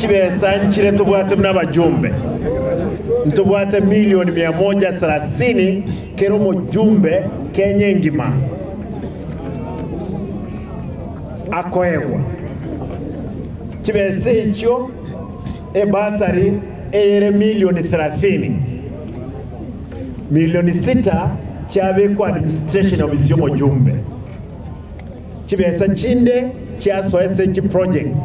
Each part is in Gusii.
Chibesa nchire tobwate buna abajumbe, ntobwate milioni mia moja sarasini kera omojumbe Kenya engima akoegwa. Chibesa echio ebasari eyere milioni therathini, milioni sita chiabekwa administration ofisi y'omojumbe. Chibesa chinde chiasoese chiprojects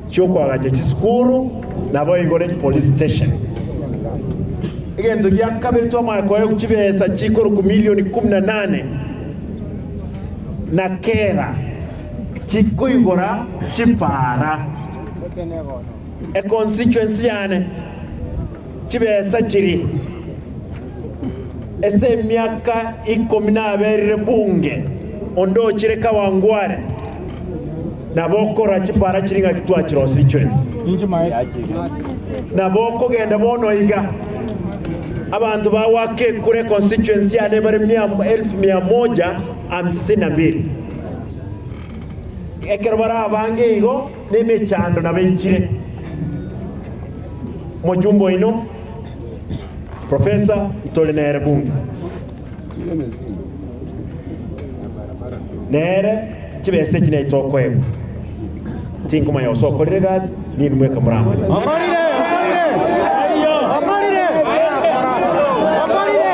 chi'okoagacha chisukuru na boigo ne chipolice station. Egento gia kabere twamanya koegwa chibesa chikorokwa million ikomi na nane na kera chikoigora chipara econstituency yane. Chibesa chiri ase emiaka ikomi naberire bunge onde ochire kawangware, nabo okorora chipara chiri ng'aki twachirosirie chionsi. Nabo okogenda bono iga, abanto ba Wakekure constituency yane bare mia elfu mia moja hamsini na mbili. Ekero barabange igo, Nemechando nabaichire Omojumbe oino Professor ntore nere bunge. Nere chibesa echi naye tokoegwa. Tinkomanya gose okorire egasi ninwe mweka moramanye. Okorire, okorire, okorire, okorire.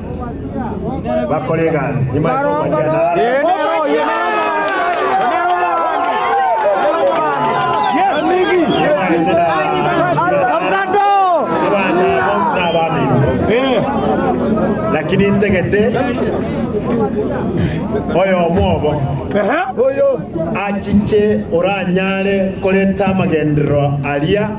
bakore egasi. Nyuma ya kobaria naro nibaete na abana bonsi na abaminto. Lakini intagete oyomo obo achiche oranyare korenta amagenderero aria